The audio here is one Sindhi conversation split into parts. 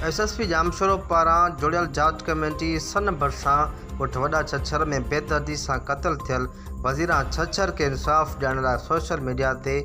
ايس ايس پي ڄامشورو پاران جوڙيل جاچ ڪميٽي سن ڀرسان ڳوٺ وڏا ڇڇر ۾ بيدردي سان قتل ٿيل وزيران ڇڇر کي انصاف ڏيارڻ لاء سوشل ميڊيا تي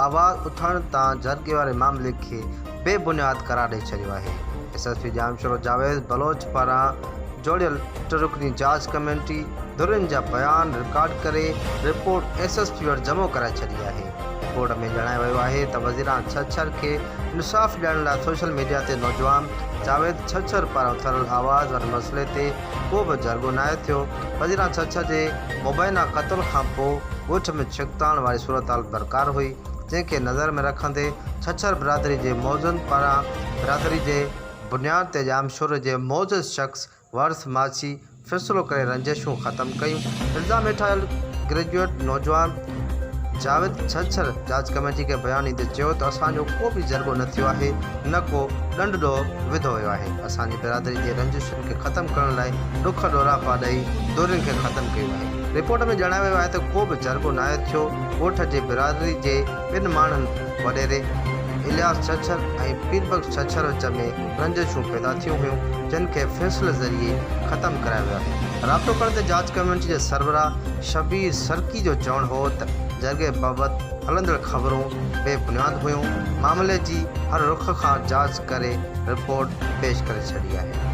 آواز اٿارڻ تان جهرڳي واري معاملي کي بي بنياد قرار ڏئي ڇڏيو آهي S S P Jamshoro Javed Baloch پاران جوڙيل ٽه رڪني جاچ ڪميٽي ڌرين جا بيان رڪارڊ ڪري رپورٽ ايس ايس پي وٽ جمع ڪرائي ڇڏي آهي. بورڊ ۾ ڄاڻايو ويو آهي ته وزيراڻ ڇڇر کي انصاف ڏيڻ لاء سوشل ميڊيا تي نوجوان جاويد ڇڇر پاران اٿاريل آواز واري مسئلي تي ڪو به جهرڳو ناهي ٿيو، وزيراڻ ڇڇر جي مبينا قتل کانپوء ڳوٺ ۾ ڇڪتاڻ واري صورتحال برقرار هئي، جنهن کي نظر ۾ رکندي ڇڇر برادري جي معززن پاران برادري جي بنياد تي ڄامشوري جي معزز شخص ورث ماسي فيصلو ڪري رنجشون ختم ڪيون. الزام هيٺ آيل گريجوئيٽ نوجوان جاويد ڇڇر جاچ ڪميٽي کي بيان ڏيندي چيو ته اسان جو ڪو به ضربو نه ٿيو آهي نه ڪو ڏنڊ ڏوهه وڌو ويو آهي، اسان جي برادري جي رنجشن کي ختم ڪرڻ لاء ڏک ڏوراپا ڏئي دورين کي ختم ڪيو آهي. رپورٽ ۾ ڄاڻايو ويو آهي ته ڪو به ضربو ناهي ٿيو، ڳوٺ جي برادري جي. ٻن ماڻهن وڏيري الياس ڇڇر ۽ پير بخش ڇڇر وچ ۾ رنجشون پيدا ٿيون هيون جن کي فيصلي ذريعي ختم ڪرايو ويو آهي. رابطو ڪرڻ تي جاچ ڪميٽي جي سربراهه شبير سرڪي جو چوڻ هو ته جرڳي بابت هلندڙ خبرون بي بنياد هيون، معاملي جي هر رخ کان جاچ ڪري رپورٽ پيش ڪري ڇڏي آهي.